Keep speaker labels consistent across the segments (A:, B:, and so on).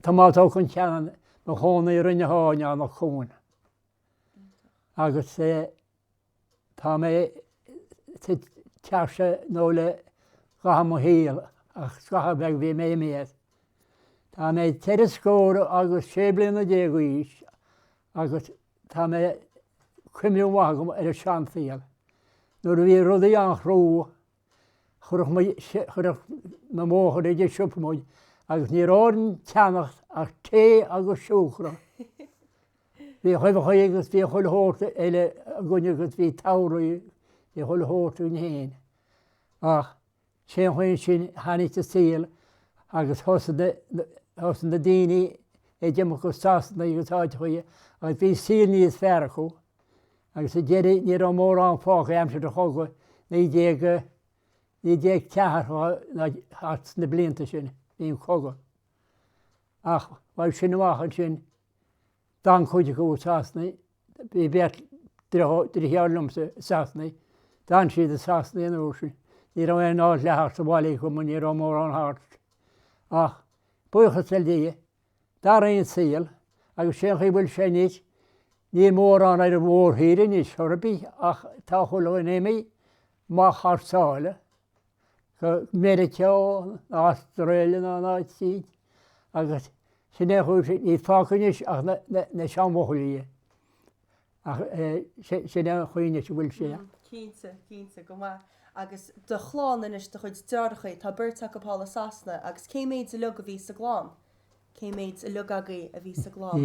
A: Tomás Ó Concheanainn, mo chónaí i Rinn Eoghain, Eanach Cuain. Agus é tá mé istigh anseo nó i gcaitheamh mo shaoil ach scaitheamh beag bhí mé imithe as. Tá mé ceithre scór agus sé bliana déag d'aois agus tá mé cuimhne mhaith agam ar an seansaol nuair a bhí rudaí an-chrua, chuirfeadh muid, chuirfeadh mo mháthair ag an siopa muid agus ní raibh orainn ceannacht ach tae agus siúcra. Bhíodh uibheacha agus bhíodh chuile shórt eile againn agus bhí togha rudaí, bhí chuile shórt againn fhéin. Ach Sé an chaoi ansin tháinig an saol agus thosaigh na daoine ag imeacht go Sasana agus áiteacha agus bhí saol níos fearr acu agus sa deireadh ní raibh mórán fágtha aimsir an chogadh, 1914 ná thart sna blianta sin, bhí an cogadh. Ach uaidh sin amach ansin. D'fhan cuid acu i Sasana, bhí beirt driotháir liomsa i Sasana, d'fhan siad i Sasana an uair sin. Ní raibh aon áit le theacht abhaile acu mar ní raibh mórán thart. Ach buíochas le Dia, d'athraigh an saol agus sé an chaoi a bhfuil sé anois, níl mórán ar an mhórthír anois ar bith ach tá chuile dhuine ag imeacht amach thar sáile. go Meiriceá, Astráil ná áit eicínt agus sin é a chuir siad, níl fágtha anois ach na seanbhuachaillí ach sin é an chaoi anois a bhfuil sé. Cinnte, cinnte, go maith. Agus do chlann anois do chuid driotháracha, tá beirt acu thall i Sasana agus cé mhéad uilig a bhí sa gclann? Cé mhéad uilig agaibh a bhí sa gclann?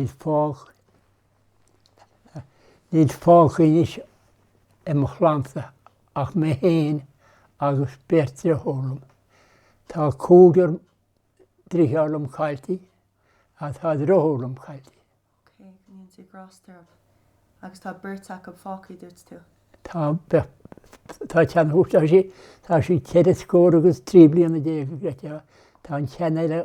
A: Níl fágtha anois i mo chlannsa ach mé féin agus beirt driofúr liom. Tá cúigear driotháir liom cailltí agus tá driofúr liom cailltí. Ok, go ndéana Dia grásta orthu. Agus tá beirt acu fágtha dúirt tú? Tá, tá ceann acu, tá sí, tá sí ceithre scór agus trí bliana déag, tá an ceann eile,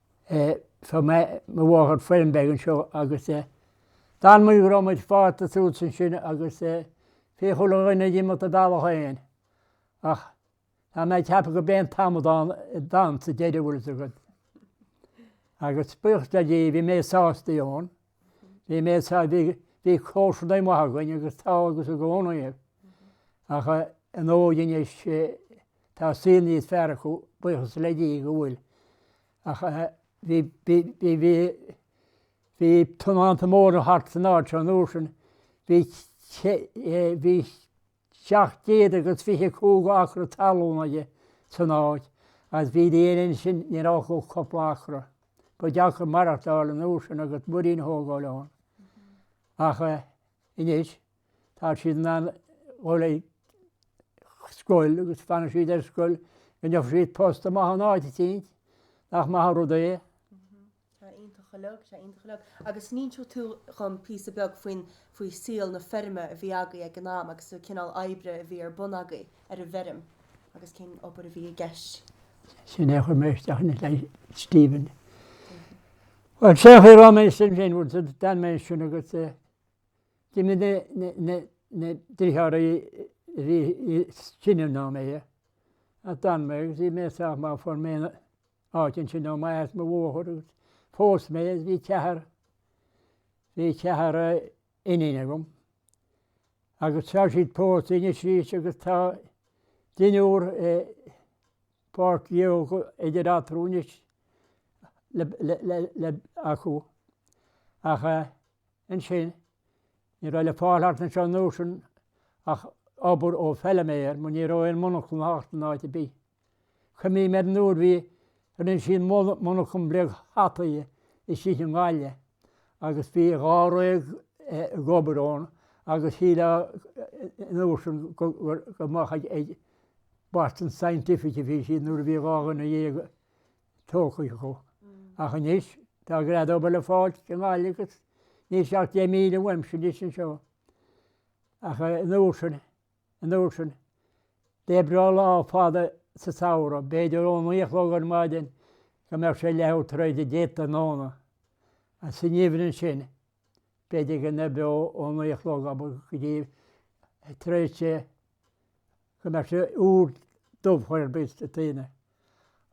A: Thug mé mo mháthair feirm beag anseo agus d'fhan muid go raibh muid fásta suas ansin agus bhí chuile dhuine ag imeacht a bhealach féin. Ach tá mé ag ceapadh gur mé an t-amadán sa deireadh, a bhfuil 'fhios agat. Agus buíochas le Dia, bhí mé sásta ann, bhí mé sásta, bhí, bhí comharsanaigh maithe againn agus tá agus i gcónaí. Ach an óige anois. Tá saol níos fearr acu, buíochas le Dia go bhfuil, ach bhí, bhí, bhí, bhí, bhí tionóntaí móra thart san áit seo an uair sin, bhí sé, bhí seacht gcéad agus fiche cúig acra talún aige san áit agus bhí daoine ansin, ní raibh acu ach cúpla acra. Ba dheacair maireachtáil an uair sin agus muirín a thógáil ann. Ach anois. Tá siad in ann dhul ag scoil agus fanann siad ar scoil go ndéanfadh siad post amach in áit eicínt, nach maith an rud é? Tá, iontach go deo, tá, iontach go deo. Agus an inseoidh tú dom píosa beag faoin faoi saol na feirme a bhí agaibh ag an am agus an cineál oibre a bhí ar bun agaibh ar an bhfeirm agus cén obair a bhí i gceist? Sin é a chuir mé isteach ina leith, Stephen. Bhuel, sé a chuir orm é sin féin, bhuel, d'fhan mé ansin agus eh, D'imigh na deartháirí a bhí níos sine ná mé, agus d'fhan mé agus bhí mé sách mall. Fuair mé áit ansin ó m'athair is mo mháthair agus phós mé agus bhí ceathar, bhí ceathar iníon agam agus tá siad pósta anois arís agus tá deichniúr páistí idir eatarthu anois le, le, le, le, acu ach eh, Ansin, ní raibh le fáil thart anseo nóisean ach obair ó feilméar mar ní raibh aon mhonarchan thart in áit ar bith. Cuimhním ar an uair bhí rinne siad monarchan beag hataí istigh i nGaillimh agus bhí dháréag ag obair ann agus shílfeá an uair sin gur amach ag Boston Scientific a bhí siad nuair a bhí dhá dhuine dhéag tógtha acu. Ach anois, tá greadadh obair le fáilt i nGaillimh agus níl sé ach deich míle uaimse anois anseo. Ach an uair sin, an uair sin, d'oibreofá lá fada sa tsamhradh, b'fhéidir ón naoi a chlog ar maidin go mbeadh sé leathuair tar éis a deich tráthnóna. Is sa ngeimhreadh ansin, b'fhéidir go n-oibreodh ó naoi a chlog ab go dtí a tréithe go mbeadh sé úr dubh chor ar bith sa tine.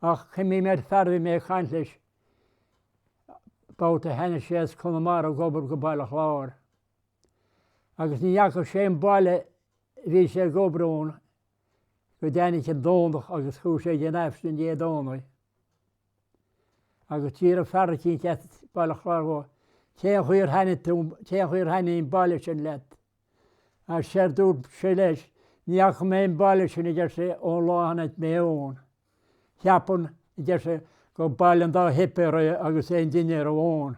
A: Ach cuimhním ar fear a bhí mé ag caint leis babhta, tháinig sé as Conamara ag obair go Baile Chláir. Agus ní fhaca sé an baile a bhí sé ag obair ann go dtáinig an Domhnach agus chuaigh sé ag an Aifreann Dé Domhnaigh. agus d'fhiafraigh fear eicínt as Baile Chláir dhó, Cén chaoi ar thaitnigh tú, cén chaoi ar thaitnigh an baile sin leat? Séard a dúirt sé leis, Ní fhaca mé an baile sin, a deir sé, ón lá a tháinig mé ann. Ceapaim, a deir sé, gur baile an dá shuipéar é agus aon duine a raibh ann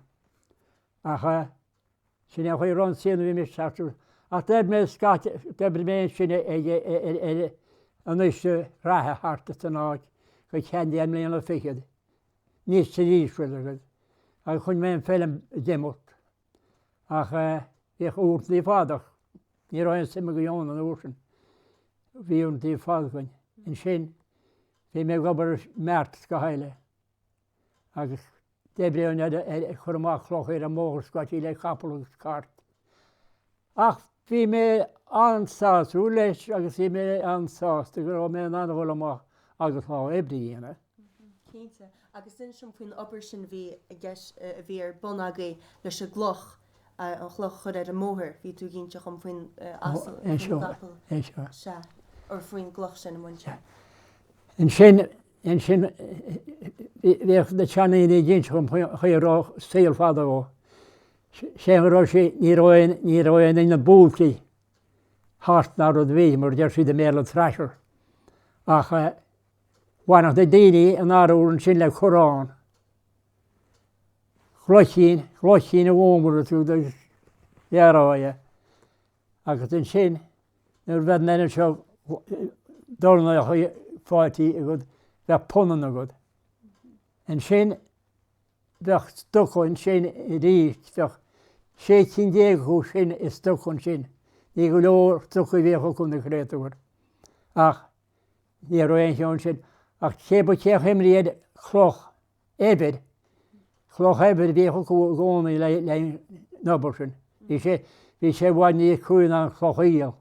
A: ach a Sin é an chaoi a raibh an saol nuair a bhí mé ag teacht suas. Ach d'oibir mé scaití, d'oibir mé ansin ag, ar, an uisce reatha thart ar an áit go ceann deich mbliana fichead, níos trí aoisbhil agus, agus choinnigh mé an feilm ag imeacht. Ach bhíodh uaireanta fada ach ní raibh aon suim againn ann an uair sin. Bhí uaireanta fada againn. Ansin bhí mé ag obair i mbeartas go háirithe. agus d'oibreodh an oiread eile ag cur amach cloch ar an mbóthar scaití le capall agus cairt. Ach bhí mé an-sásta leis agus bhí mé an-sásta go raibh mé in ann a dhul amach agus lá oibre a dhéanamh. Cinnte. Agus sin sin faoin obair sin a bhí i gceist, a bhí ar bun agaibh leis an gcloch, an chloch a chur ar an mbóthar. Bhí tú ag inse dhom faoin asal, faoin gcapall. Sea. Sea. Ó faoin gcloch sin a bhaint. Sea. Ansin Ansin, bhíodh na seandaoine ag inse dhom faoin saol fada ó shoin go raibh sé, ní raibh aon, ní raibh aon inneall buailte thart ná rud ar bith, mar deir siad i mBéarla an thresher. Ach bhaineadh na daoine an arbhar ansin le corrán. Glaicín, glaicín a mhúnlaigh tú do dhearáí. agus ansin nuair a bheadh an oiread seo dornálacha faighte agat bheadh punann agat. Ansin bheadh stuca ansin aríst, bheadh sé cinn déag acu sin i stuca ansin. Ní go leor stucaí a bhíodh acu na créatúir. Ach ní raibh aon cheo ansin ach cébí cén chaoi a mbíodh cloch eibhir, cloch eibhir a bhíodh acu i gcónaí le le an obair sin. Bhí sé bhí sé i bhfad níos crua ná an chloch aoil.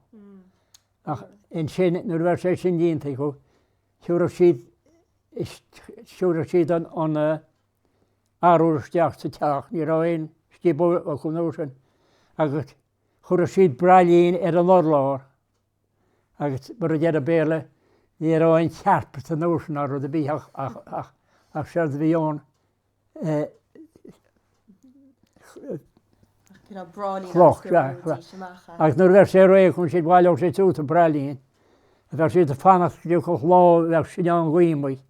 A: Ach ansin nuair a bheadh sé sin déanta acu, thiúrfadh siad thiúrfadh siad an an arbhar isteach sa teach, ní raibh aon scioból acu an uair sin, agus chuireadh siad braillín ar an urlár. agus mar a deir an Béarla, ní raibh aon charpets anois ná rud ar bith ach séard a bhí ann cloch. Agus nuair a bheadh sé réidh chun siad bhaileodh sé suas an braillín a bheadh siad ag fanacht go dtiocfadh lá a bheadh sinneán gaoithe amuigh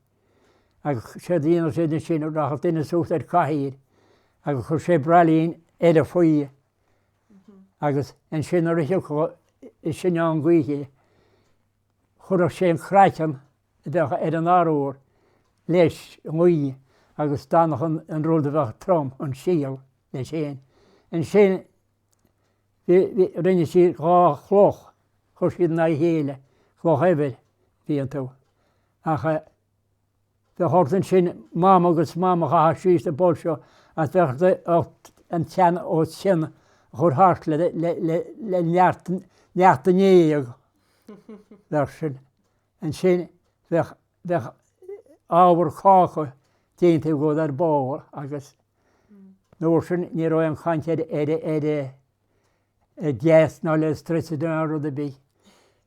A: agus séard a dhéanadh siad ansin rachadh duine suas ar cathaoir agus chuirfeadh sé braillín eile faoi agus ansin nuair a thiocfadh an sinneán gaoithe chuirfeadh sé an craiceann a bheadh ar an arbhar leis an ngaoth agus d'fhanfadh an rud a bheadh trom, an síol, leis féin. Ansin rinne siad dhá chloch, chuir siad in aghaidh a chéile, cloch eibhir a bhí iontu, ach. Do thug ansin mám agus mám a chaitheamh síos sa bpoll seo as bheadh d'ucht an tsean ó chionn a chur thart le neart neach do ndéidheadh bheadh sin. Ansin bheadh bheadh ábhar cáca déanta i gcód ar ball agus an uair sin ní raibh aon chaint ar ar ar ar gas ná electricity ná rud ar bith.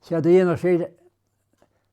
A: Séard a dhéanadh siad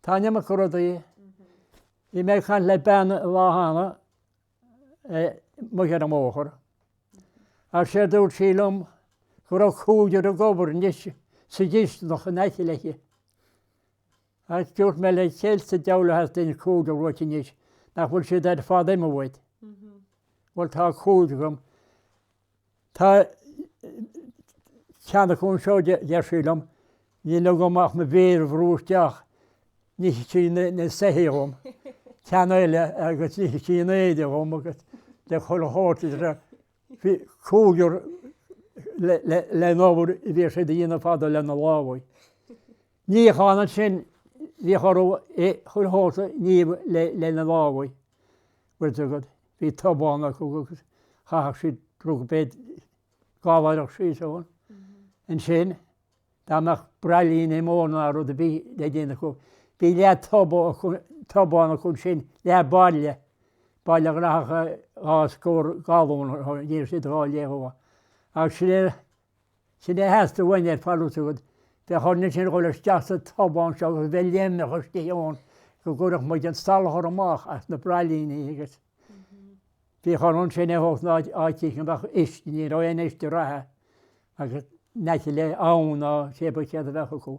A: Tá an iomarca rudaí. Bhí mé ag caint le bean lá cheana amuigh ar an mbóthar agus sé dúirt sí liom go raibh cúigear ag obair anois sa gcisteanach in aice léi. Agus dúirt mé léi céard sa diabhal a theastaíonn cúigear uait anois, nach bhfuil siad ar fad imithe uait. Bhuel tá cúigear agam Tá ceann acu anseo, deir sí liom, Níl agam ach mo mhéar a bhrú isteach, nífidh sí na soithí dhom, ceann eile agus nífidh sí na héadaí dhom agus chuile shórt idir a cúigear leis an obair a bhíodh siad a dhéanamh fadó lena lámhaibh. Níochán ansin bhíodh orthu é chur thall sa ngníomh lena lámha, bhfuil fhios agat. Bhí tobán acu agus chaitheadh siad rud beag gallaoireach síos ann. Ansin, dá mbeadh braillíní móra ná rud a bhí le déanamh acu, bhí leath tobha acu, tobán acu ansin, leath bairille, bairille a ghlacfadh dhá scór galún, dhéanadh siad dhá leith dhó. Agus sin é. Sin é a theastaigh uainn ar fad, bhfuil fhios agat an uair sin a dhul isteach sa tobán seo agus bheith léimneach istigh ann go gcuirfeadh muid an salachar amach as na braillíní agus bhíodh orthu ansin é thógaint in áit eicínt go mbeadh uisce, ní raibh aon uisce reatha agus in aice le abhann ná cibé céard a bheadh acu.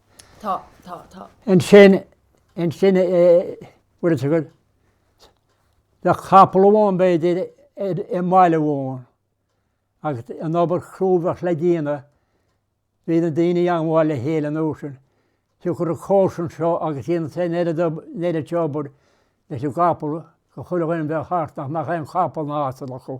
A: Tá, tá, tá. Ansin, ansin bhfuil fhios agat le capall amháin, b'fhéidir, i mbaile amháin agus an obair chrua a bheadh le déanamh, bhí na daoine ag gabháil le chéile an uair sin, fiú gur ag comharsan seo agus ag déanamh an oiread ab, an oiread seo obair leis an gcapall, do chuile dhuine a bheadh thart nach mbeadh aon chapall ná asal acu.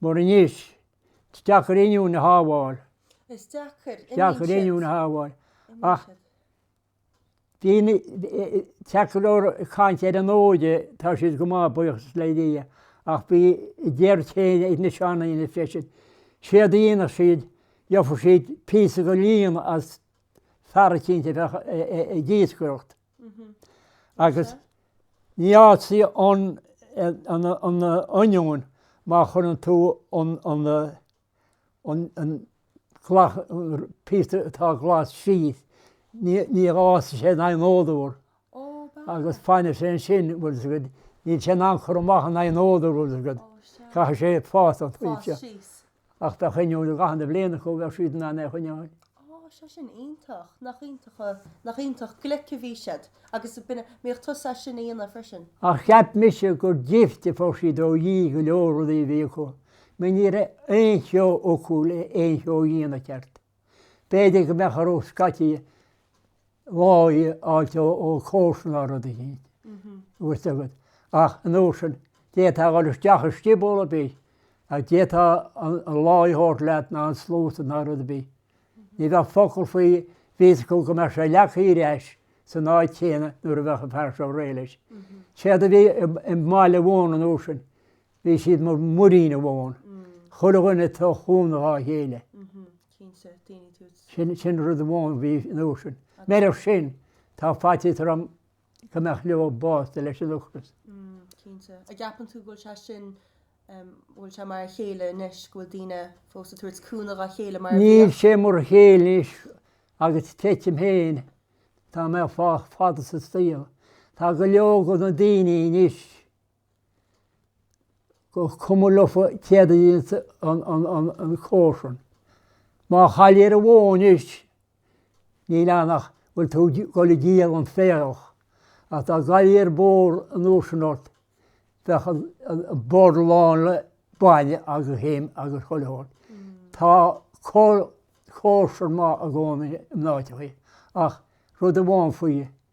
A: Mar anois, is deacair oinniúin a shábháil. Is deacair oinniúin a shábháil, ach bítear ag caint ar an óige, tá siad go maith, buíochas le Dia, ach bhí a ndearcadh féin ag na seandaoine freisin. Séard a dhéanfadh siad, gheobhadh siad píosa de líon as fear eicínt a bheadh ag iascaireacht. Agus ní fhásfaidh an oinniún má chuireann tú an píosa atá glas síos, ní fhásfaidh sé in aghaidh an fhód úr. Agus fanfaidh sé ansin, bhfuil 's agat, níl sé in ann cur amach in aghaidh an fhód úr, bhfuil 's agat, caithfidh sé fás. Fás síos. Ach dá choinneoidh a gcathanna bliain acu, bheadh siad in ann é a choinneáil. Á, sea sin, iontach. Nach iontach, nach iontach glic a bhí siad. Agus an mbíodh tusa as sin a dhéanamh freisin? Ach cheap mise gur gifts a fuair siad ó Dhia go leor rudaí a bhí acu, mar ní raibh aon cheo acu le haon cheo a dhéanamh ceart. B'fhéidir go mbeadh orthu scaití láí a fháilt ó chomharsa ná rud eicínt, bhfuil 's agat. Ach an uair sin, d'fhéadfá a dhul isteach i scioból ar bith agus d'fhéadfá an láí a thabhairt leat ná an sluasaid ná rud ar bith. Ní bheadh focal faoi, bhí a fhios acu go mbeadh sé leagtha ar ais san áit chéanna nuair a bheadh an fear seo réidh leis. Séard a bhí i mbaile amháin an uair sin, Bhí siad mar mhuirín amháin. Chuile dhuine ag tabhairt cúnamh dhá chéile. Sin, sin rud amháin a bhí an uair sin. Murach sin, tá faitíos orm go mbeadh go leor básaithe leis an ocras. Cinnte. An gceapann tú go bhfuil sé sin, go bhfuil sé mar a chéile anois, go bhfuil daoine fós ag tabhairt cúnamh dhá chéile mar a bhíodh? Níl sé mar a chéile anois agus tuigim féin, tá mé sách fada sa saol. Tá go leor de na daoine anois gur cuma leofa céard a dhéanas an comharsan. Má chailltear an bhó anois, níl ann ach go bhfuil tú ag dul ag díol an féarach, ach dá gcaillfí bó an uair sin ort, bheadh an bord lán le bainne agus im agus chuile shórt. Tá comharsan maith i gcónaí in áiteachaí, ach rud amháin faoi,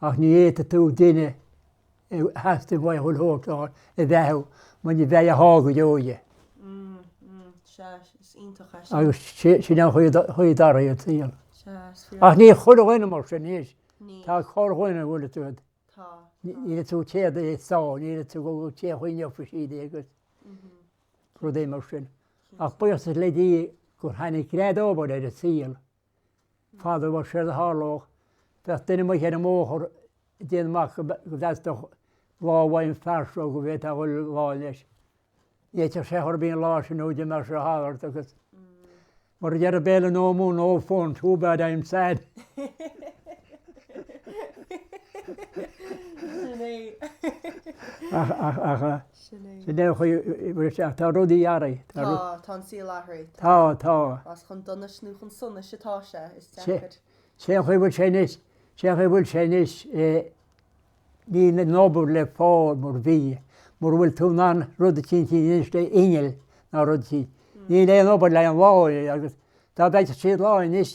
A: Ach ní fhéadfaidh tú duine a theastaíonn uaidh a dhul thar fóir a bheathú muna mbeidh a sháith go deo aige. Agus sin an chaoi atá ar an saol. Ach ní chuile dhuine mar sin, anois, tá corrdhuine a bhfuil a dtroid. Ní fhéadfaidh tú téad a shá, ní fhéadfaidh tú dhul go teach aoinne ach fuil siad é agus rudaí mar sin. Ach buíochas le Dia gur tháinig greadadh obair ar an saol. Fadó ba séard a tharlódh, bheadh duine amuigh ar an mbóthar ag déanamh amach go bhfostódh lá amháin fear seo go bhféadfadh a dhul lá leis. Ní fhéadfadh sé a chor ar bith an lá sin nó d'imeodh sé thall ort agus mar a deir an Béarla no mon no fun, too bad I'm sad. Sin é. Ach Sin é. Sin é an chaoi a bhfuil sé. Tá rudaí athraithe. Tá, tá an saol athraithe. Tá, tá. Más chun donais nó chun sonais atá sé, is deacair. Sé an chaoi bhfuil sé anois, sé an chaoi bhfuil sé anois, níl an obair le fáil mar bhí. Mura bhfuil tú in ann rud eicínt a dhéanamh le inneall ná rud eicínt, níl aon obair le an láí, agus dá bhfeicfeadh siad láí anois,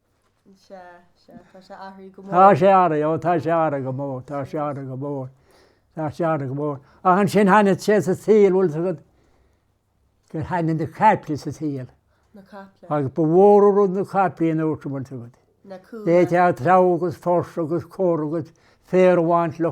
A: Tá sé athraithe, ó tá sé athraithe go mór, tá sé athraithe go mór, tá sé athraithe go mór. Ach ansin tháinig sé sa tsaol bhfuil fhios agat gur tháinig na caiple sa tsaol. Na caiple. Agus ba mhór an rud na caiple an uair sin bhfuil fhios agat. Na cumha. Bhí ag teacht treabhadh agus fuirseadh agus cur agus féar a bhaint leo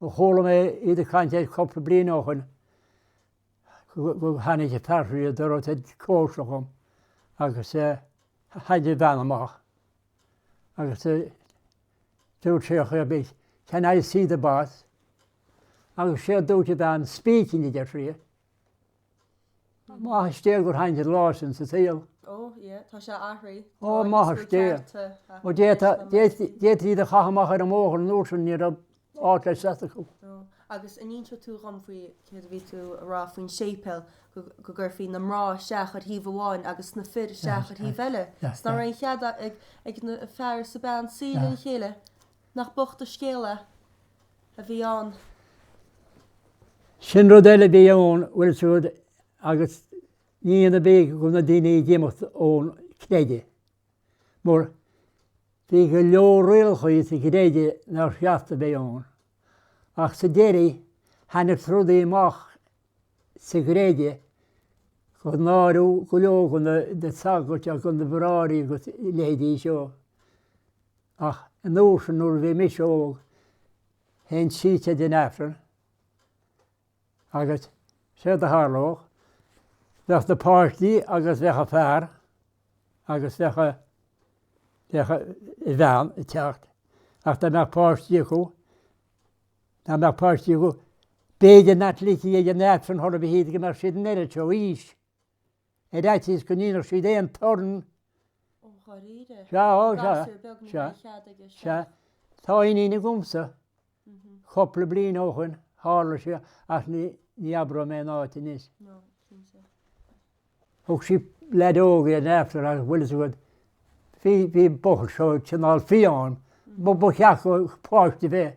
A: Chuala mé iad ag caint air cúpla bliain ó shin go dtáinig fear ag an doras ag comharsana dhom agus tháinig an bhean amach agus dúirt sé Can I see the boss? Agus séard a dúirt an bhean, speaking a deir sí. Maith an scéal gur tháinig an lá sin sa tsaol. Ó, ie, tá sé athraithe. Ó, maith an scéal. Ó, d'fhéadtaí iad a chaith amach ar an mbóthar an uair sin ní raibh áit le seasamh acu. Agus an inseoidh tú dhom faoi céard a bhí tú a rá faoin séipéil go gcuirfí na mná isteach ar thaobh amháin agus na fir isteach ar thaobh eile. Is ní raibh cead ag an bhfear is an bhean suí le chéile. Nach bocht an scéal a bhí ann. Sin rud eile a bhí ann, bhfuil fhios agat agus ní hionadh é go raibh na daoine ag imeacht ón gcreideamh. Mar bhí go leor rialachaí sa gcreideamh nár cheart a bheith ann. Ach sa deiridh, tháinig rudaí amach sa gcreideamh gur náiríodh go leor de na sagairt agus de na bráithre agus a leithéidí seo. Ach an uair sin nuair a bhí mise óg, théinn siar don Aifreann agus séard a tharlódh, bheadh na páistí agus bheadh an fear agus bheadh a, bheadh an bhean ag teacht ach dá mbeadh páistí acu, dá mbeadh páistí acu, b'fhéidir nach ligfí iad chun an Aifrinn ar chor ar bith iad go mbeadh siad an oiread seo aois. ar fhaitíos go ndéanfadh siad aon torann. Ó, dháiríre? Sea, ó, sea, Gasúr beag ní sea, raibh cead aige, sea. sea. Tá iníon agamsa. Cupla bliain ó shoin, tharla sé, ach ní, ní abróidh mé an áit anois. No, cinnte. Thug sí leaid óg ar an airtléire agus bhfuil fhios agat, bhí, bhí an buachaill seo cineál fiáin, ba, ba cheart go, páiste bheith.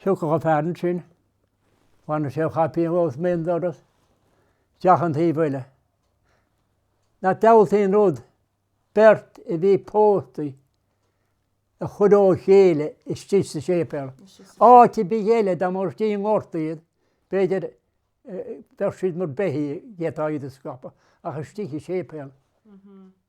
A: Thiocfadh an fear ansin, bhaineadh sé a chaipín dhó is bhí an doras isteach an taobh eile. Nach diabhaltaí an rud beirt a bhí pósta a chur ó chéile istigh sa séipéal. Áit ar bith eile, dá mba ag tíocht i ngort iad, b'fhéidir, dá mbeadh siad mar beithígh, dhéanfá iad a scaipeadh, ach istigh i séipéal.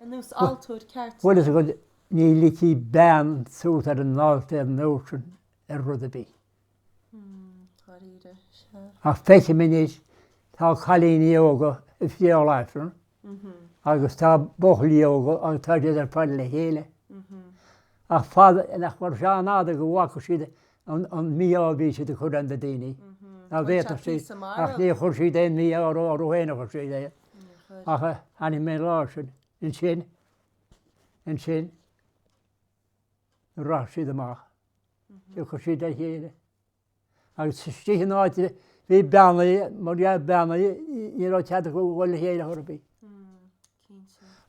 A: ar an altóir ceart. Bhuel, is a dhuine, ní ligfí bean suas ar an altóir an uair sin ar rud ar bith. Dáiríre, sea. Ach feicim anois, tá cailíní óga ag friotháil aifrinn agus tá buachaillí óga agus tá siad ar fad le chéile. Ach fada, nach mar seo an fhada go bhfaca siad an mí-ádh a bhí siad ag cur ar na daoine. Dá bhféadfadh siad, ach níor chuir siad aon mhí-ádh orthu féin a chuir siad é. ach chonaic mé leis sin ansin nuair a rachaidh siad amach tiocfaidh siad le chéile agus istigh in áit a bhí beannaithe mar gheall beannaithe ní raibh cead acu dhul le chéile chor ar bith.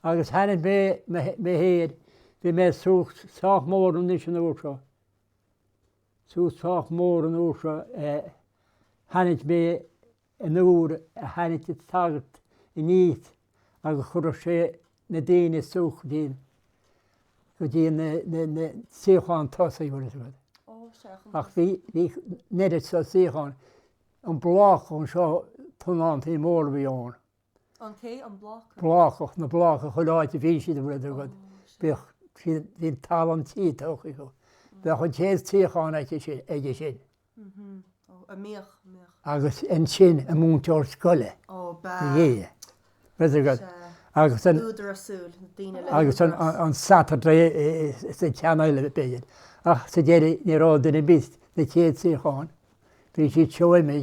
A: Agus chonaic mé féin é bhí mé suas sách mór anois an uair seo suas sách mór an uair seo chonaic mé an uair a thagadh an sagart aníos agus chuirfeadh sé na daoine suas go dtí an suíochán tosaigh agus rud. Ach bhí an oiread seo suíochán, an block anseo, tionántaí móra a bhí ann. An té an bláca. Blácach, na bláca chuile áit a bhí siad an bhfuil a fhios agat, bíodh siad, bhí an talamh tí tugtha acu, bheadh an chéad suíochán aici sin, aige sin. Ó, a mbíodh, a mbíodh. Agus ansin a múinteoir scoile. Ó, ba. Dhé. Bhfuil a fhios agat. Agus an. Údara súl, na daoine le húdaras. Agus an sagart sa gcineál, b'fhéidir. Ach sa deireadh ní raibh duine ar bith sna chéad suíocháin, bhí siad seoigh mé,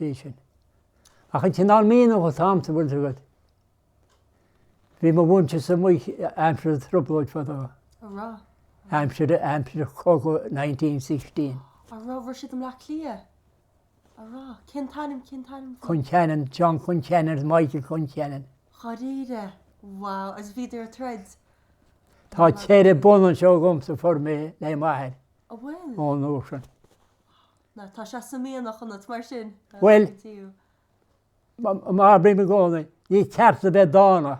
A: bhí sin. Ach an cineál mianaigh atá agamsa bhfuil a fhios agat. Bhí mo mhuintir amuigh aimsir an thrioblóid fadó. An raibh? Aimsir aimsir chogadh 1916. An raibh, bhí siad i mBleá Cliath? An raibh? Cén t-ainm cén t-ainm? Concheanainn, John Concheanainn, Michael Concheanainn. Dháiríre! Wow, is bhíodar ag troid? Tá ceithre bhonn anseo agam sa form le m'athair. A bhfuil? Ón uair sin. Now, tá sé sa mhianach ionat, mar sin, a Mhaitiú. Bhuel, mar a bhraithim i gcónaí, ní ceart a bheith dána,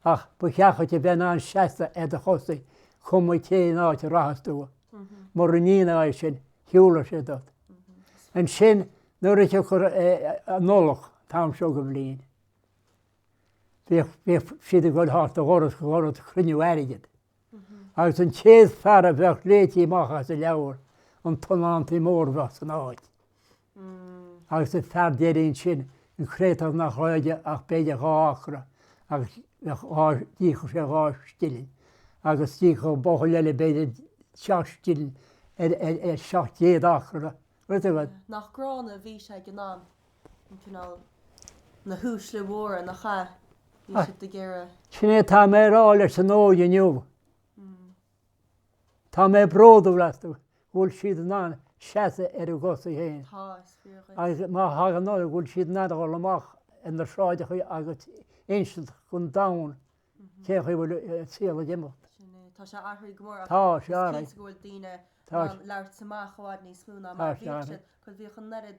A: ach ba cheart dhuit a bheith in ann seasamh ar do chosaí, cuma cén áit a rachas tú. Mura ndéanfá sin, shiúlfaí ort. Ansin, nuair a thiocfadh an Nollaig, an t-am seo den bhliain, bhíodh siad ag dul thart ó dhoras go doras ag cruinniú airgid. agus an chéad fear a bheadh léití amach as an leabhar, an tionónta mór a bheadh san áit. Agus an fear deiridh ansin, an créatúr nach raibh aige ach b'fhéidir dhá acra agus bheadh dhá, d'íocfadh sé dhá scilling agus d'íocfadh an buachaill eile b'fhéidir seacht scilling ar, ar, ar seacht gcéad acra, rud ar bith. Nach gránna a bhí sé ag an am. Sin é atá mé a rá leis an óige inniu. Tá mé bródúil astu go bhfuil siad in ann seasamh ar a gcosa féin agus má thagann orthu go bhfuil siad in ann a dhul amach ar na sráideacha agus insint don domhan cén chaoi a bhfuil an saol ag imeacht. Tá sé ag athrú go mór agus tá sé cinnte go bhfuil daoine in ann labhairt amach i bhfad níos mó ná mar a bhíodh siad, bhuel bhíodh an oiread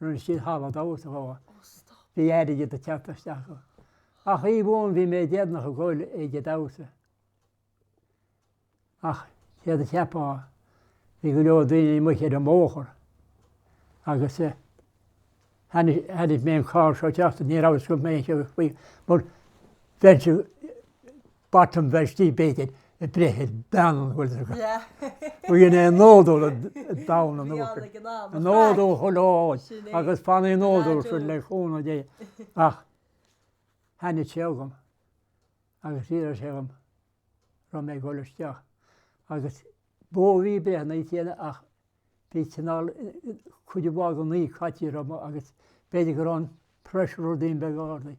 A: Rinne siad halla damhsa dhó. Bhí airgead ag teacht isteach dhó. Ach oíche amháin bhí mé déanach ag dul ag an damhsa. Ach céard a cheapfá, bhí go leor daoine amuigh ar an mbóthar agus eh, tháinig mé an carr seo ag teacht, ní raibh fhios go mbeinn ag siúl faoi mar bheinnse Bottom Vestí b'éigean a breith ar bean an Ghaeltacht go dhéanadh é nodúil i dTamhain an Uachtair, an nodúil chomh lóin agus fan an nodúil sin le cúnamh Dé ach thaitnigh sé agam agus d'iarr sé dhom raibh mé ag dul isteach agus bó a bhí breithe na chéanna ach bhí cineál cuid mhaith de naoi chaitiar agam agus b'fhéidir go raibh an pressure ar dhaoine beag a ardaigh.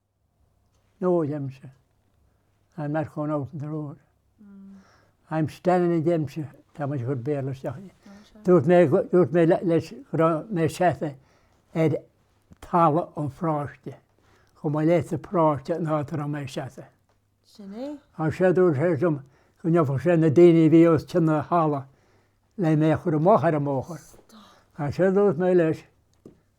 A: No Dempsey, I'm not going out on the road. I'm standing in Dempsey, tá muid ag cur Béarla isteach i. Dúirt mé go, dúirt mé leis go raibh mé seasta ar thalamh an pharáiste, chomh maith leis an bparáiste ná go raibh mé seasta. Sin é. As sin dúirt sé liom go ndeachaigh sé ag na daoine a bhí os cionn na halla le mé a chur amach ar an mbóthar. Stop. As sin dúirt mé leis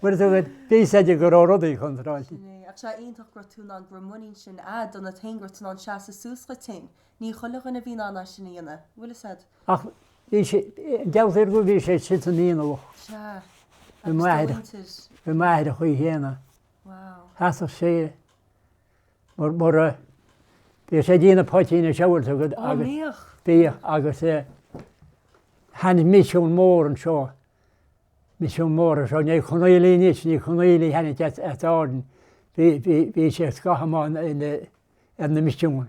A: Bhfuil tú ag ceapadh go raibh rudaí contráilte? Ní, ach sé iontach gur tú ná gur muinín sin agat ionat héin go raibh tú in ann seasamh suas dhuit héin. Ní chuile dhuine a bhíonn in ann é sin a dhéanamh. Bhfuil fhios a'd? Ach bhí sé, gabháiltear go bhí sé sin sa dúchas. Sea. Bhí m'athair, bhí m'athair an chaoi chéanna. Wow. Sheasadh sé. mura bhíodh sé ag déanamh poitín a shábháil agaibh agus. Ó bhíodh. Bhíodh agus tháinig misiún mór anseo, misiún mór anseo, Naomh Chonaola anois, Naomh Chonaola a tháinig ansin, bhí sé scathamh ar na misiúin.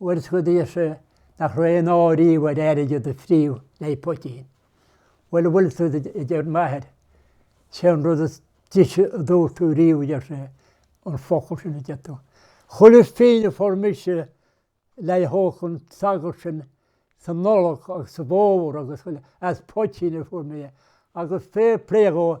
A: Bhfuil a fhios agat, a deir sé nach raibh aon ádh riamh ar airgead a fríothadh le poitín. Bhuel, a bhfuil tú, a deir m'athair, sé an rud is deise a dúirt tú riamh, a deir sé, an focal sin a deir tú. Chuile phínn a fuair mise le n-íoc an sagart sin sa Nollaig agus sa bhFómhar agus as poitín a fuair mé é, agus fair play dhó.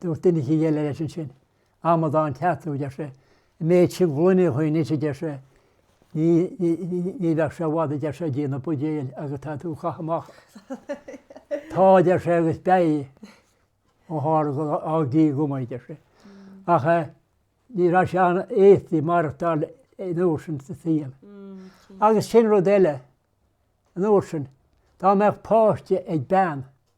A: Dúirt duine eicínt eile leis ansin, Amadán ceart tú, a deir sé. An méid sin gloine chugainn anois, a deir sé, ní bheadh sé i bhfad, a deir sé, ag líonadh buidéil agus tá tú ag caitheamh amach. Tá, a deir sé, agus beidh ó tharla gur fhág Dia dhom, a deir sé. Ach ní raibh sé an-éasca maireachtáil an uair sin sa saol. Agus sin rud eile, an uair sin, dá mbeadh páiste ag bean,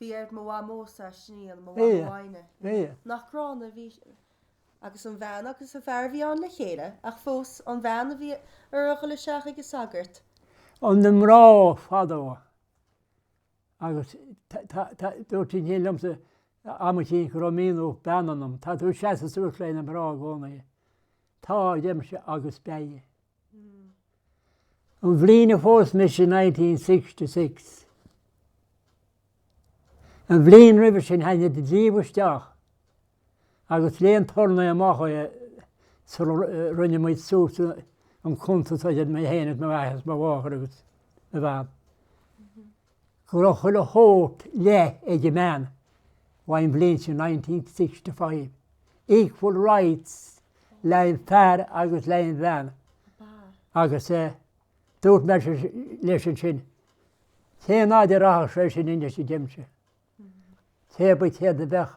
A: Bhí aird mo mhamó sa siníl, mo mhamó Áine. Nach gránna a bhí sí. Agus an bhean agus an fear a bhí ann le chéile, ach fós, an bhean a bhí uirthi a dhul isteach ag an sagart. Ó na mná fadó. Agus dúirt duine eicínt liomsa am eicínt go raibh mianach bean ionam. Tá tú ag seasamh suas le na mná i gcónaí. Tá, a deirimse, agus beidh. An bhliain a phós mise in nineteen sixty six. An bhliain roimhe sin tháinig an dlí isteach agus léigh an turnae amach é sular rinne muid suas an cuntas idir mé féin agus m'athair agus mo mháthair agus mo bhean. go raibh chuile shórt leath ag an mbean ón mbliain sin nineteen sixty five, equal rights le haghaidh an fear agus le haghaidh an bhean agus dúirt mé leis ansin cén fhad a rachadh sé sin anois a deir mise cébí céard a bheadh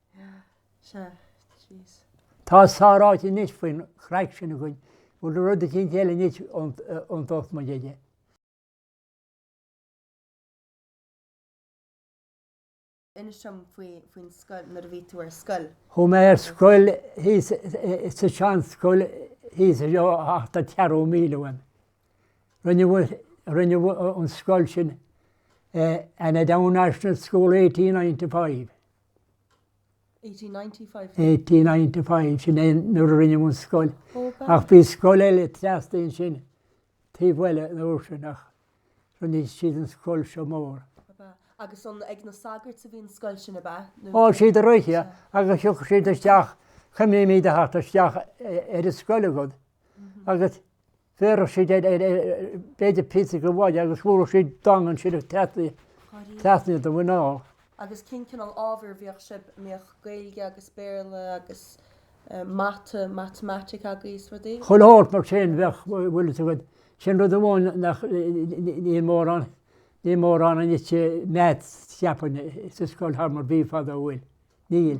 A: Tá sách ráite anois faoin gcraic sin againn. Bhfuil aon rud eicínt eile anois a dtiocfadh muid aige? Inis dom faoin scoil, nuair a bhí tú ar scoil. Chuaigh mé ar scoil thíos sa seanscoil thíos anseo ach tá ceathrú míle uaim. Rinneadh an scoil sin Annaghdown National School 1895. 1895, sin é nuair a rinneadh an scoil. Ach bhí scoil eile trasna ansin taobh eile an uair sin ach rinne siad an scoil seo mór. Ab ea? Agus an ag na sagairt a bhí an scoil sin, ab ea? Nó. Ó, siad ar oíche agus thiocfadh siad isteach, cuimhním iad ag teacht isteach ar an scoil agat agus bhéarfadh siad b'fhéidir píosa de mhaide agus thabharfadh siad dong ansin trasna, trasna do mhuineáil. Agus cén cineál ábhair a bhíodh sibh, an mbíodh Gaeilge agus Béarla agus mata, matamaitic agaibh is rudaí? Chuile shórt mar sin, bheadh, bhfuil 'fhios a'd. Sin rud amháin nach, níl mórán, níl mórán anois maths cheapfainn sa scoil thar mar bhí fadó, bhfuil? Níl.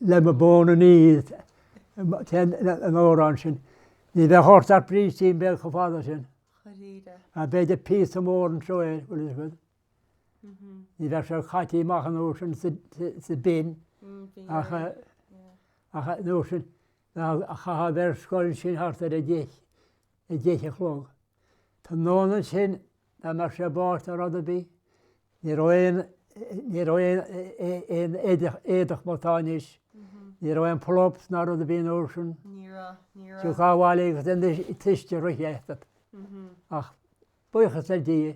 A: le mo bhonn an uair sin. Ní bheadh ort ach brístín beag chomh fada sin. Chomh híre. Ach b'fhéidir píosa mór anseo é bhfuil 'fhios a'd. Ní bheadh sé caite amach an uair sin san am sin ach ach an uair sin chaithfeá bheith ar scoil sin thart ar a deich a deich a chlog. Tráthnóna ansin Dá mbeadh sé ag báisteach ná rud ar bith, ní raibh aon, ní raibh aon, aon éadach, éadach mar atá anois, ní raibh aon pull-ups ná rud ar bith an uair sin. Ní raibh, ní raibh. Thiocfá abhaile agus anois an t-uisce rite agat. Ach buíochas le Dia,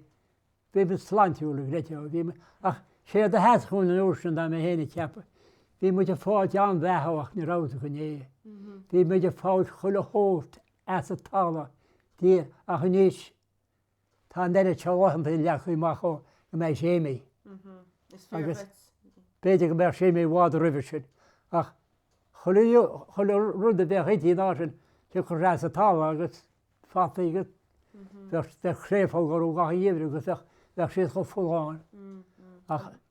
A: bímid sláintiúil a chréatúir, bhímid, ach séard a sheas dúinn an uair sin, tá mé féin ag ceapadh, bhí muid ag fáilt an-bheatha ach ní raibh sé go leor. Bhí muid ag fáilt chuile shórt, as an talamh, a Dhia, ach anois, Tá an oiread seo laethanta leagtha amach go mbeidh Séimí agus b'fhéidir go mbeadh Séimí i bhfad roimhe sin ach chuile rud a bheadh inti an lá sin, thiocfadh sé as an talamh agus fataí agus bheadh créafóg orthu gach aon gheimhreadh agus bheadh siad chomh folláin ach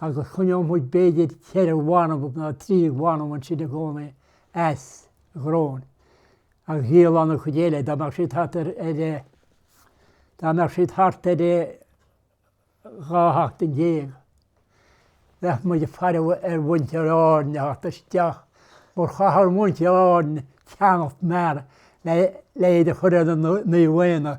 A: agus choinneodh muid b'fhéidir ceithre bhanbh nó trí bhanbh ansin i gcónaí as an gcráin agus dhíolfadh an chuid eile dá mbeadh siad thart ar, dá mbeadh siad thart ar dhá sheachtain déag. Bheadh muid ag faire ar mhuintir Árann a theacht isteach mar chaitheadh muintir Árann a gceannacht mar le iad a chur ar an Naomh Éanna,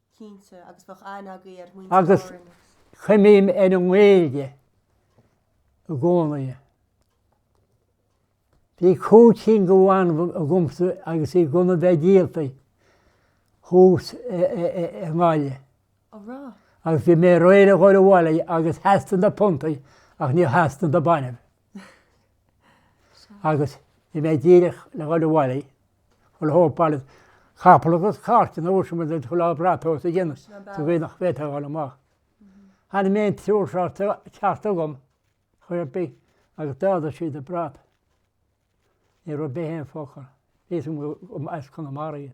A: Cinnte, agus bheadh an-aithne ar mhuintir Árann. Agus cuimhním ar an nGaeilge i gcónaí. Bhí cúig cinn de bhainbh agamsa agus iad gan a bheith díolta thuas i nGaillimh. Ó bhreá. Agus bhí mé réidh le dhul abhaile agus theastaigh na puntaí ach níor theastaigh na bainbh. Agus bhí mé díreach le dhul abhaile ach an uair sin capall agus cairt an uair sin chuile brat os a gcionn sa gcaoi nach bhféadfadh a dhul amach. Tháinig mé an triúr seo isteach agam ar chaoi ar bith agus d'ardaigh siad an brat. Ní raibh bith aon focal. B'as Conamara iad.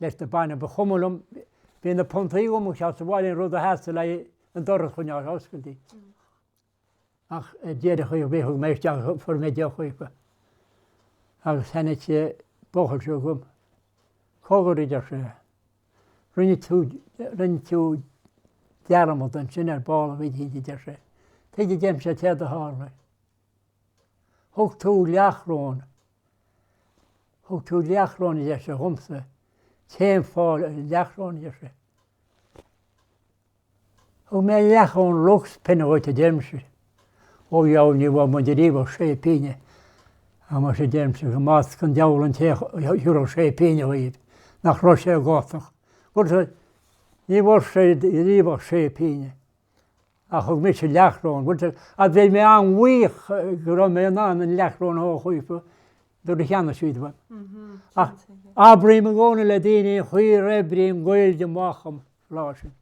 A: leis na bainbh. Ba chuma liom, bhí na puntaí agam agus as a bhaile an rud a theastaigh uaidh an doras a choinneáil oscailte. Ach ar deireadh chuaigh mé, thug mé isteach, fuair mé deoch uaidh agus tháinig sé ar ball chugam. Cogar, a deir sé, rinne tú, rinne tú dearmad ansin ar ball a bhí a deir sé. Tuige a deirimse céard a tharla? Thug tú leathchoróin. Thug tú leathchoróin a deir sé dhomsa. Cén fáth leathchoróin a deir sé? Thug mé leathchoróin luck's penny dhuit, a deirimse. Ó a dheabhail, ní bhfuair muid ariamh ach sé pingine. Ach muis, a deirimse, go mbasca an deabhal an té a thiúrfadh sé pingine dhaoibh, nach raibh sé ag gátar. Ní bhfuair sé ariamh ach sé pingine. ach thug mise leathchoróin, rud a bhfuil mé an-bhuíoch go raibh mé in ann an leathchoróin a thógaíochta do na cheannasaí dom. Ach abraím i gcónaí le daoine gur oibrigh an Ghaeilge amach an lá sin.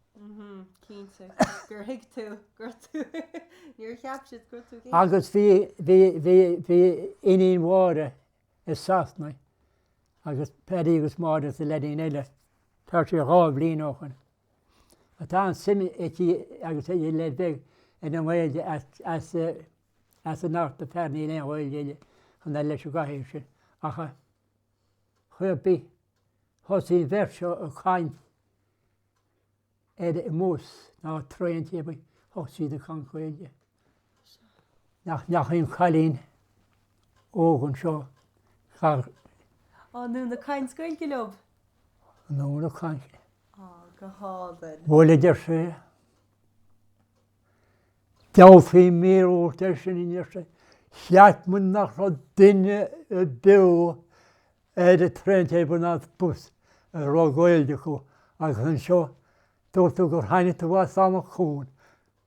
A: Agus bhí bhí bhí bhí iníon Mháire i Sasana agus Paddy agus Máire is an leaidín eile, tá sé dhá bhliain ó shoin. atá an-suim aici agus ag leaid beag i nGaeilge as as a n-amharc na fear níl aon Ghaeilge aige ach an oiread leis an gcathaoir sin ach ar chaoi ar bith. Thosaigh an bheirt seo ag caint ar an mbus nó traen cé bith thosaigh siad ag caint Gaeilge. nach ndeachaigh an cailín óg anseo thart. Á, anonn ag caint Gaeilge leob, anonn ag caint. Á, go hálainn. Bhuel, a deir sé. Tabharfaidh mé míorúilt air sin a deir sé. Cheap mé nach raibh duine ar bith ar an traen, tube ná bus a raibh Gaeilge acu agus anseo dúirt tú gur tháinig tú as am a cún.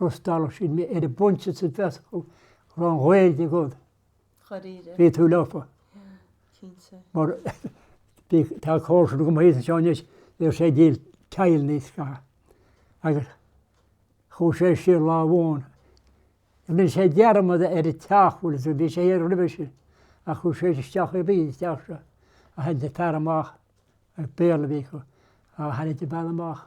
A: D'fhreastalódh siad mé ar an bpointe sa bhféadfadh go raibh an Ghaeilge agat, bhí tú leofa. Mar tá cousin dhomsa anseo anois, bhíodh sé ag díol teidil níos scaitheamh. Agus chuaigh sé siar lá amháin, rinne sé dearmad ar an teach bhfuil a bhí sé thiar roimhe sin, ach chuaigh sé isteach i bhí an teach seo, is tháinig an fear amach, Béarla a bhí acu, is tháinig an bhean amach,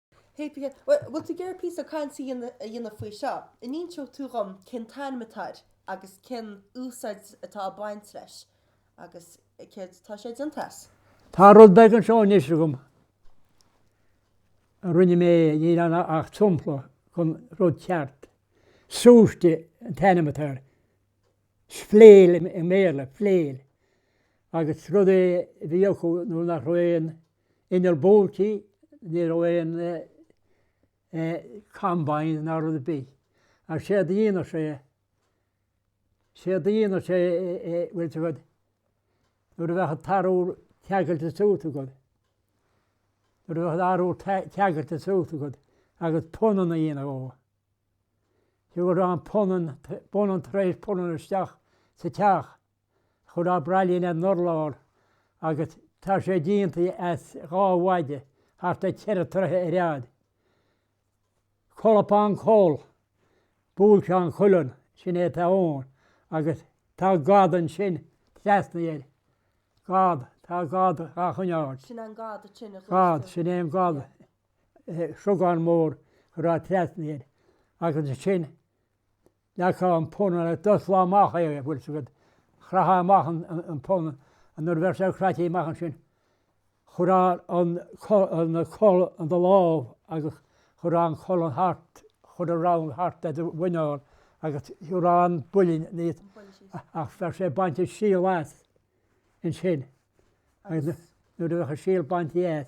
A: Pipigin, Bhuel, bhfuil tú ag iarraidh píosa cainte a dhéanamh faoi seo? An inseoidh tú dhom cén t-ainm atá air agus cén úsáid atá ag baint leis agus céard atá sé déanta as? Tá rud beag anseo anois agam a rinne mé, níl ann ach sampla den rud ceart. Súiste an t-ainm atá air. Flail i mBéarla, flail. Agus rud é a bhí acu nuair nach raibh aon inneall buailte, ní raibh aon combine ná rud ar bith. Ach séard a dhéanadh siad, séard a dhéanadh siad bhfuil a fhios agat, nuair a bheadh an t-arbhar ceangailte suas agat, nuair a bheadh an t-arbhar ceangailte suas agat agus punanna déanta dhó, thabharfá an punann, punann tar éis punann isteach sa teach. Chuirfeá braillín ar an urlár agus tá sé déanta as dhá mhaide thart ar cheithre troithe ar fhad. Colpán Coll, Buailteán Cuilinn, sin é atá ann agus tá gad ansin trasna air. Gad, tá gad dhá choinneáil. Sin é an gad a chluineann tú. Gad, sin é an gad, súgán mór a chuirfeá trasna air agus ansin, leagfá an punann agus d'osclófá amach é bhfuil a fhios agat, chraithfeá amach an punann nuair a bheadh sé craite amach ansin chuirfeá an coll i do lámh agus chuirfeá an coll thart, chuirfeá round thart ar do mhuineál agus chuirfeá an buailtín aníos ach bheadh sé bainte an síol as ansin agus nuair a bheadh an síol bainte as.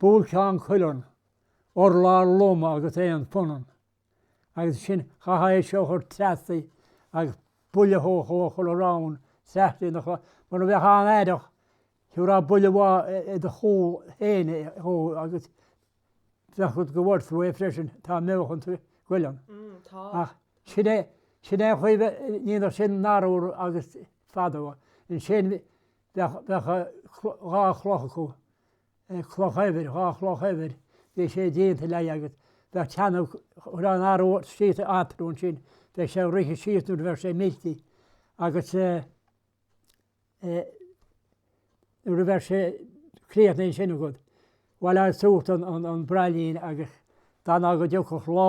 A: Buailteán cuilinn, urlár lom agus aon phunann, agus ansin chaithfeá seasamh ar treasaigh agus buille a thabhairt chuile round traislitheanacha mura mbeifeá an-aireach thabharfá buille maith i do chúl féin a thóg agus bheadh rud go bhfaighir tú é freisin, tá meáchan sa chuileann. Ach sin é, sin é an chaoi a ndéanadh siad an t-arbhar agus fadó. Ansin Bheadh, bheadh dhá chloch acu, cloch eibhir, dhá chloch eibhir, bhí sé déanta leí agus bheadh teannadh, chuirfeá an t-arbhar síos eatarthu ansin, bheadh sé ag rith síos nuair a bheadh sé meilte agus nuair a bheadh sé críochnaithe ansin agat, bhaileofá suas an braillín agus d'fhanfá go dtiocfadh lá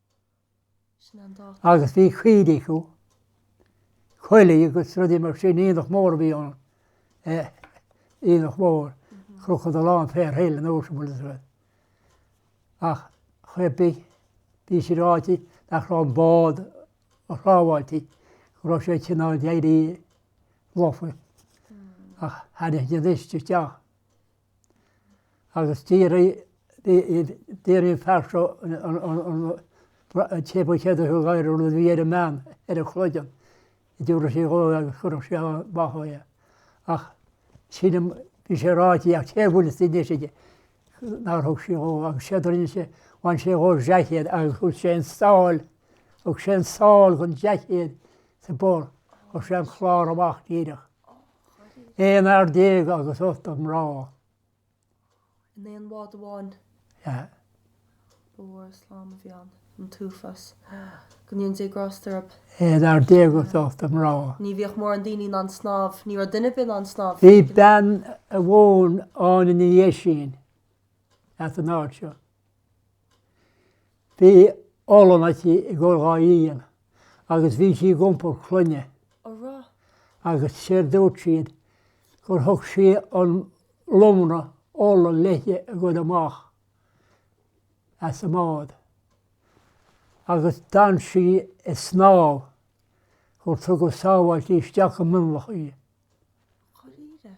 A: Agus bhí caoirigh acu uilig agus rudaí mar sin, aonach mór a bhí ann, aonach mór, Cnoc an Dalláin, Fair Hill anois, bhfuil a fhios agat. Ach ar chuma ar bith, bhí sé ráite nach raibh an bád róshábháilte, go raibh sé cineál ag éirí lofa. Ach tháinig na daoine isteach. agus dhírigh an fear seo an téip a cheadaigh a gháire nuair a bhí air an mbean ar a chloigeann a dtabharfadh sí dhó é agus chuirfeadh sí ann maitheamh é. Ach sílim, bhí sé ráite ach cé a bhfuil sa deis aige, nár thug sí dhó agus séard a rinne sé, bhain sé dhó dá seaicéad agus thug sé an sáil, thug sé an sáil den seaicéad sa bpor, chuir sé an clár amach díreach. Aon fhear déag agus ocht mná. In aon bhád amháin. Ba mhór slám a bhí ann, an t-uafás. Go ndéana Dé grásta orthu. Aon fhear déag agus ocht mná. Ní bhíodh mórán daoine in ann snámh, ní raibh duine ar bith in ann snámh. Bhí bean amháin, Áine Ní Dhéisín, as an áit seo. Bhí olann aici i gcomhair dhá líon agus bhí sí ag iompar clainne. A raibh. Agus séard a dúirt siad gur thug sí an lomra olann léithi ag goil amach as an mbád agus d'fhan sí ag snámh gur tugadh sábháiltí isteach i Mionlach í. Go háirithe.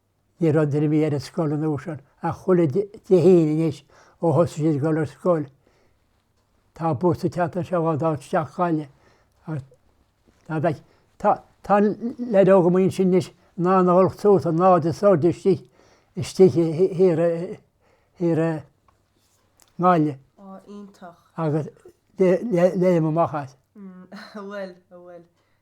A: Ní raibh drumaí ar an scoil an uair sin ach chuile Dé hAoine anois ó thosaigh siad ag dul ar scoil. Tá bus ag teacht anseo isteach go Gaillimh agus dá bhfeicfeá, tá, tá an leid óg amuigh ansin anois in ann a dhul suas an aird is airde istigh, istigh thiar, thiar i nGaillimh. Ó, iontach. Agus léim amach as. Bhuel, bhuel.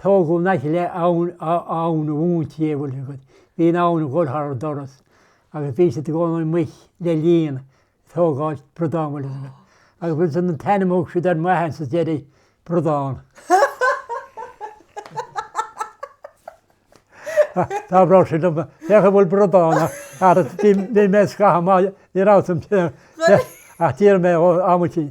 A: Tógadh le taobh abhainn a mhuintir é, bhfuil a fhios agat. Bhí an abhainn a dhul thar an doras agus bhí siad i gcónaí amuigh le líon ag tógáilt bradán, bhfuil a fhios agat. Agus bhfuil fhios agat an t-ainm thug siad air sa deireadh bradán. Tá bhreá sé dom féach a bhfuil bradán ar bhí mé scath má ní rá an tíar mé ó amtí.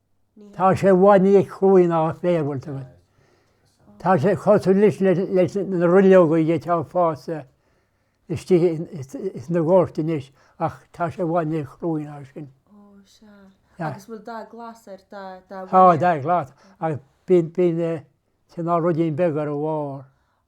A: Tá sé i bhfad níos cruaí ná an féar, an bhfuil fhios agat. Tá sé cosúil leis leis na ruileogaí atá fásta istigh sa gcósta anois ach tá sé i bhfad níos cruaí ná sin. Ó sea. Agus bhfuil dath glas air, dath dath buí air? Tá, dath glas. Agus bíonn bíonn cineál ruidín beag ar a bharr.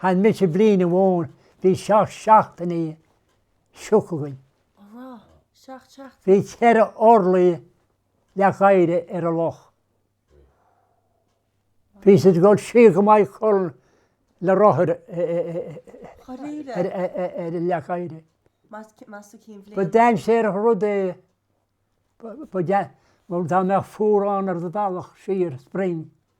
A: Chonaic mise bliain amháin, bhí seacht seachtainí sioc againn. Ó rá, seacht seachtainí. Bhí ceithre orlaí leac oighre ar an loch. Bhí siad ag dul siar go Maigh Cuilinn le rothair ar an leac oighre. Ba dainséarach rud é, mar dá mbeadh fuarán ar do bhealach siar, spring,